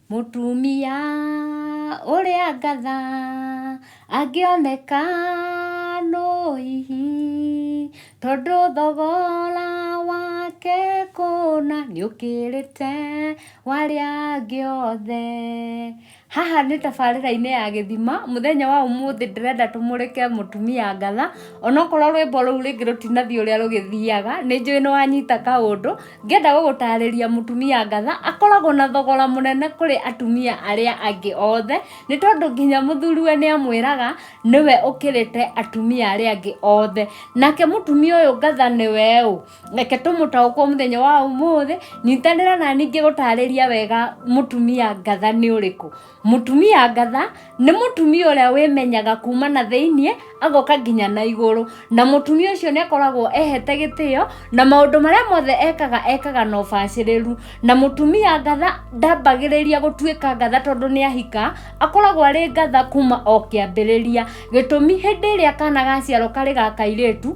Mũtumia ũrĩa ngatha angĩoneka no hihi tondũ thogora wake kũna nĩ ũkĩrĩte warĩa angĩ othe Haha nĩ tabarĩra-inĩ ya gĩthima, mũthenya wa ũmũthĩ ndĩrenda tũmũrĩke mũtumia ngatha, onokorwo rwĩmbo rũu rĩngĩ rũtinathiĩ ũrĩa rũgĩthiaga, nĩ njũĩ nĩ wanyita kaũndũ, ngĩenda gũgũtarĩria mũtumia ngatha, akoragwo na thogora mũnene kũrĩ atumia arĩa angĩ othe, nĩ tondũ nginya mũthuriwe nĩ amwĩraga, nĩwe ũkĩrĩte atumia arĩa angĩ othe. Nake mũtumia ũyũ ngatha nĩwe ũ? reke tũmũtaũkwo mũthenya wa ũmũthĩ nyitanĩra na ningĩ gũtarĩria wega mũtumia ngatha nĩ ũrĩkũ mũtumia ngatha nĩ mũtumia ũrĩa wĩmenyaga kuma na thĩiniĩ agoka nginya na igũrũ na mũtumia ũcio nĩ akoragwo ehete gĩtĩo na maũndũ marĩa mothe ekaga ekaga na ũbacĩrĩru na mũtumia ngatha ndambagĩrĩria gũtuĩka ngatha tondũ nĩ ahika akoragwo arĩ ngatha kuma o kĩambĩrĩria gĩtũmi hĩndĩ ĩrĩa kana gaciarwo karĩ ga kairĩtu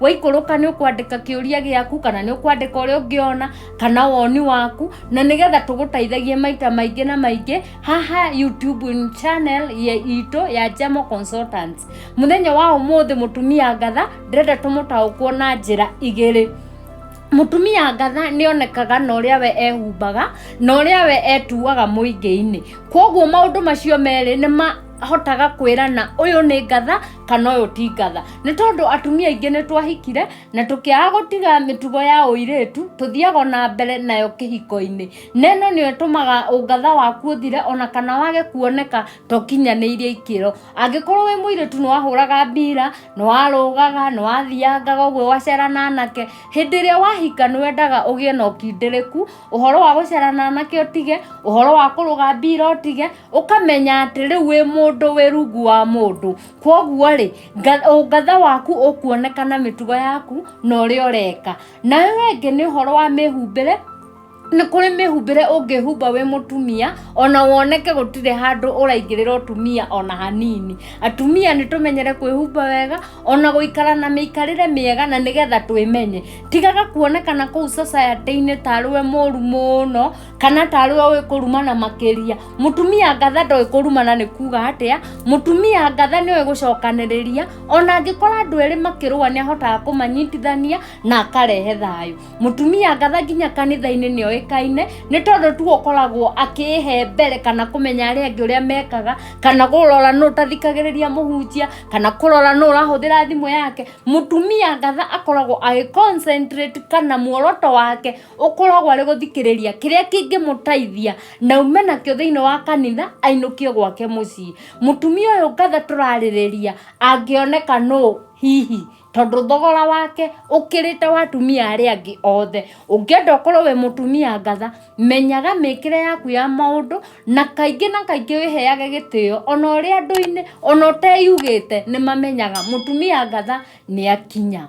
waikũrũka nĩ ũkwandĩka kĩũria gĩaku kana nĩ ũkwandĩka ũrĩa ũngĩona kana woni waku na nĩgetha tũgũteithagie maita maingĩ na maingĩ haha youtube channel ya itũ ya Jemo Consultants mũthenya wa ũmũthĩ mũtumia ngatha ndĩrenda tũmũtaũkwo na njĩra igĩrĩ mutumia ngatha nä onekaga na å rä a we ehumbaga na å rä a we etuaga må ingä-inä koguo maå ndå macio merä nä ma ahotaga kwĩra na ũyũ nĩ ngatha kana ũyũ ti ngatha nĩ tondũ atumia aingĩ nĩ twahikire na tũkĩaga gũtiga mĩtugo ya ũirĩtu tũthiaga na mbere nayo kĩhiko-inĩ na ĩno nĩyo ĩtũmaga ũngatha waku ũthire ona kana wage kuoneka to kinyanĩirie ikĩro angĩkorwo wĩ mũirĩtu nĩ wahũraga mbira nĩ warũgaga nĩ wathiangaga ũguo wacera na anake hĩndĩ ĩrĩa wahika nĩ wendaga ũgĩe na ũkindĩrĩku ũhoro wa gũcera na anake ũtige ũhoro wa kũrũga mbira ũtige ũkamenya atĩ rĩu wĩ mũndũ wĩ rungu wa mũndũ kwoguo rĩ nga- ũngatha waku ũkuoneka na mĩtugo yaku na ũrĩa ũreka na ũyũ wengĩ nĩ ũhoro wa mĩhumbĩre nĩ kũrĩ mĩhumbĩre ũngĩhumba wĩ mũtumia ona woneke gũtirĩ handũ ũraingĩrĩra ũtumia ona hanini atumia nĩ tũmenyere kwĩhumba wega ona gũikara na mĩikarĩre mĩega na nĩgetha twĩmenye tigaga kuonekana kũu society-inĩ tarĩ we mũru mũno kana tarĩ o ĩ kũrumana makĩria mũtumia ngatha ndoĩ kũrumana nĩ kuga atĩa mũtumia ngatha nĩoĩ gũcokanĩrĩria ona angĩkora andũ erĩ makĩrũa nĩ ahotaga kũmanyitithania na akarehe thayũ mũtumia ngatha nginya kanitha-inĩ nĩ oĩkaine nĩ tondũ tu ũkoragwo akĩhe mbere kana kũmenya arĩa angĩ ũrĩa mekaga kana kũrora nũ ũtathikagĩrĩria mũhunjia kana kũrora nũ ũrahũthĩra thimũ yake mũtumia ngatha akoragwo agĩ concentrate kana muoroto wake ũkoragwo arĩ gũthikĩrĩria kĩrĩa kĩngĩmũteithia na ume nakĩo thĩinĩ wa kanitha ainũkio gwake mũciĩ mũtumia ũyũ ngatha tũrarĩrĩria angĩoneka nũ hihi tondũ thogora wake ũkĩrĩte wa atumia arĩa angĩ othe ũngĩenda ũkorwo wĩ mũtumia ngatha menyaga mĩkĩre yaku ya maũndũ na kaingĩ na kaingĩ wĩheage gĩtĩo ona ũrĩa andũ-inĩ ona ũteyugĩte nĩ mamenyaga mũtumia ngatha nĩ akinya